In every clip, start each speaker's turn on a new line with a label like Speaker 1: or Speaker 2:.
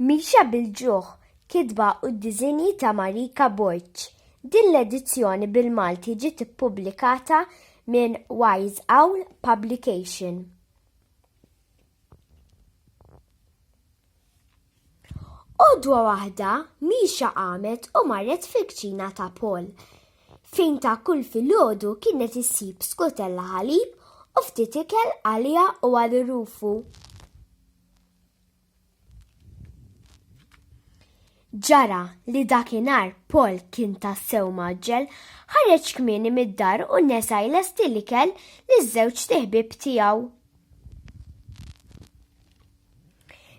Speaker 1: Mixja bil-ġuħ, kitba u d-diżinji ta' Marika Borg. Din l-edizzjoni bil-Malti ġiet ippubblikata minn Wise Owl Publication. Għodwa waħda, Mixja qamet u marret fil-kċina ta' Paul, fejn ta' kull filgħodu kienet issib skutella ħalib u ftit ikel għaliha u għal Rufu. Ġara li dakinhar Paul kien tassew maġġel, ħareġ kmieni mid-dar u nesa jlesti l-ikel li żewġ tiħbib tiegħu.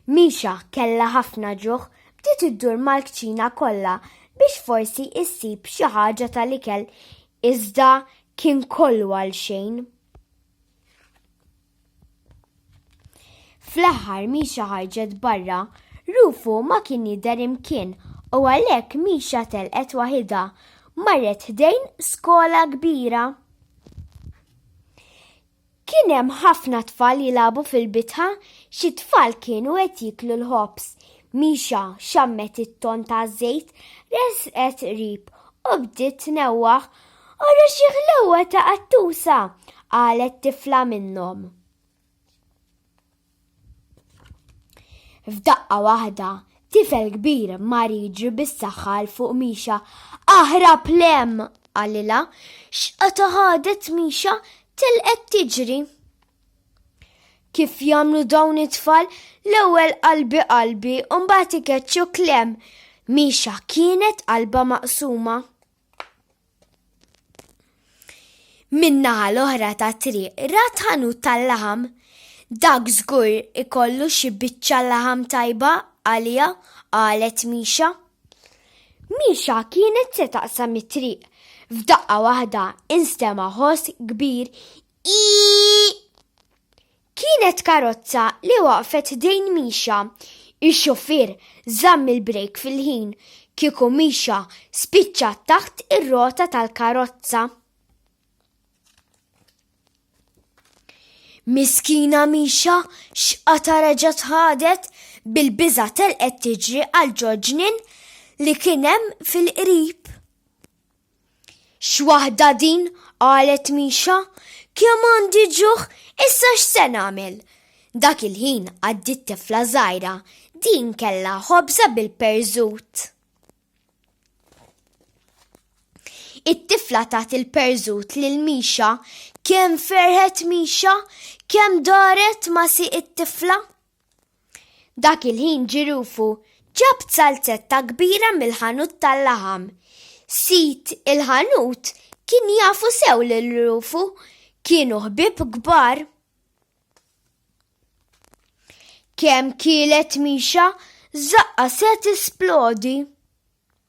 Speaker 1: Misha kellha ħafna ġuħ, bdiet iddur mal-kċina kollha biex forsi issib xi ħaġa tal-ikel, iżda kien kollu għal xejn. Fl-aħħar Misha ħarġet barra, Rufu ma kien jidher imkien u għalhekk Misha telqet waħidha. Marret ħdejn skola kbira. Kien hemm ħafna tfal jilagħbu fil-bitħa, xi tfal kienu qed jieklu l-ħobż. Misha xammet it-ton taż-żejt, resqet qrib u bdiet tnewwaħ. Ara xi ħlewwa ta' qattusa, qalet tifla minnhom. F'daqqa waħda, tifel kbir mar jiġri bis-saħħa l fuq Mixa. Aħra plem! għalila, x'qata ħadet Mixa tilqet tiġri. Kif jagħmlu dawn it-tfal l-ewwel qalbi qalbi u mbagħad ikeċċu klem. Mixa kienet qalba maqsuma. Min-naħa l-oħra ta' triq rat ħanut tal-laħam. Dak żgur ikollu xi biċċa laħam tajba għaliha, qalet Misha. Misha kienet se taqsam it-triq. F'daqqa waħda instema' ħoss kbir ii. Kienet karozza li waqfet ħdejn Misha. Ix-xufier żamm il-brejk fil-ħin, kieku Misha spiċċa taħt ir-rota tal-karozza. Miskina Misha x'qata reġgħet ħadet, bil-biża' telqet tiġri għal ġo ġnien li kien hemm fil-qrib. X'waħda din, qalet Misha, kemm għandi ġuħ, issa x'se nagħmel? Dak il-ħin għaddiet tifla żgħira, din kellha ħobża bil-perżut. It-tifla tat il-perżut lil Misha, kemm ferħet Misha, kemm daret ma' si it-tifla. Dak il-ħin ġirufu ġab salzetta kbira mill-ħanut tal-laħam. Sid il-ħanut kien jafu sew lil Rufu, kienu ħbieb kbar. Kemm kielet Misha, żaqqa se tisplodi.